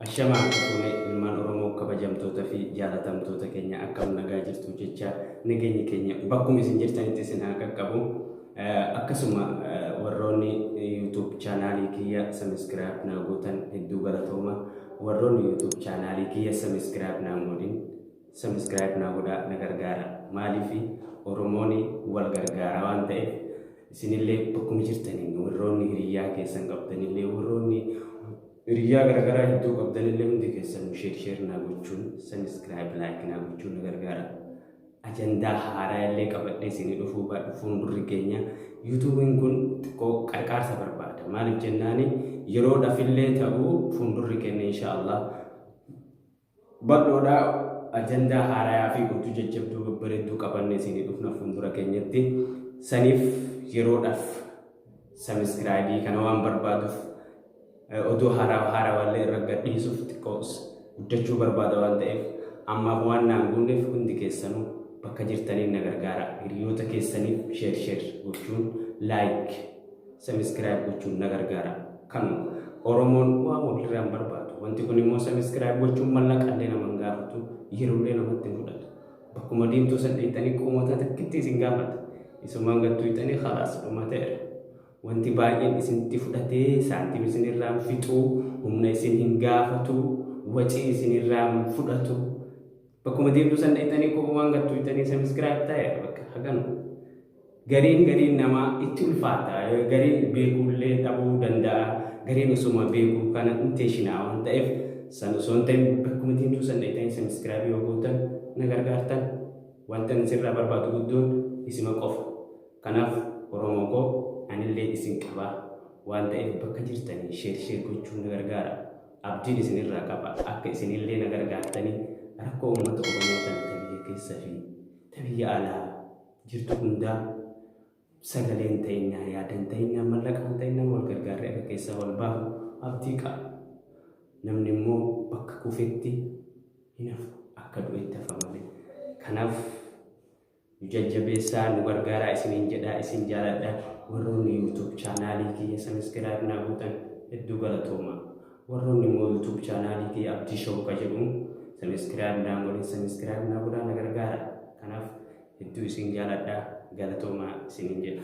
Ashamaa harka fuune ilmaan Oromoo kabajamtoota fi jaalatamtoota keenya akkam nagaa jirtu jecha nageenyi keenya bakkuma isin jirtanitti isin haa qaqqabu. Akkasuma warroonni YouTube chaanaalii kiyya sabiskiraayib naa gootan hedduu galatooma. Warroonni YouTube chaanaalii kiyya sabiskiraayib naa hin godhin Subscribe naa godhaa na gargaara maaliifi oromooni wal gargaara waan ta'eef isinillee bakkuma jirtaniin warroonni hiriyyaa keessan qabdanillee warroonni hiriyyaa garagaraa hedduu qabdanillee hundi keessan sheer sheer naa gochuun subscribe like naa gochuun na gargaara ajandaa haaraa illee qabadhee isinii dhufuu baadhu fuuldurri keenya yuutuubiin kun xiqqoo qarqaarsa barbaada maaliif jennaani yeroodhaaf illee ta'uu fuuldurri keenya insha Allah Bal'oodha ajandaa haarayaa fi oduu jajjabduu babbareedduu qabanne isinii dhufna fuuldura keenyatti saniif yeroodhaaf sabiskiraayibii kana waan barbaaduuf oduu haaraa haarawaallee irra gadhiisuuf xiqqoos guddachuu barbaada waan ta'eef ammaaf waan naan guunneef hundi keessanuu bakka jirtaniin na gargaara hiriyoota keessaniif sheer sheer gochuun laayik Subscribe gochuun na gargaara. Kanuma Oromoon waan walirraa hin barbaadu. Wanti kun immoo subscribe gochuun mallaqa illee nama hin gaafatu, yeroo illee namatti hin fudhatu. Bakkuma deemtuu san dheettanii qoomotaa takkitti isin gaafata. Isumaan gattuu hixanii khalaas dhumateera. Wanti baay'een isinitti fudhatee saantiim isinirraa hin fixu, humna isin hin gaafatu, wacii isinirraa hin fudhatu. Bakkuma deemtuu san dheettanii qoomomaan gattuu hixanii subscribe ta'eera bakka haganu. Gariin gariin namaa itti ulfaata gariin beekuullee dhabuu danda'a gariin osoma beekuu kana inteshinaa waan ta'eef san osoo hin ta'in bakkuma teemtuu san dhaytanii sabiskiraabii yoo gootan na gargaartan wanta isirraa barbaadu guddoon isima qofa kanaaf oromoo koo anillee isin qaba waan ta'eef bakka jirtanii sheer sheer gochuun na gargaara abdiin isinirraa qaba akka isinillee na gargaartanii rakkoo uummata oromoo tan tabiyya keessa fi tabiyya alaa jirtu hundaa sagaleen teenyaa yaadan teenyaa mallaqaan teenyaa wal gargaarree akka keessaa wal baafnu abdii qaba. Namni immoo bakka kufetti hin hafu akka du'etti hafa malee. Kanaaf nu jajjabeessaa nu gargaaraa isiniin jedhaa isin jaaladha warroonni YouTube chaanaalii kiyya sabiskiraayib naa gootan hedduu galatoomaa. Warroonni immoo YouTube channel kiyya Abdii Show ka jedhu subscribe naan godhin subscribe naa godhaa na gargaara. Kanaaf hedduu isin jaaladha galatoomaa isiniin jedha.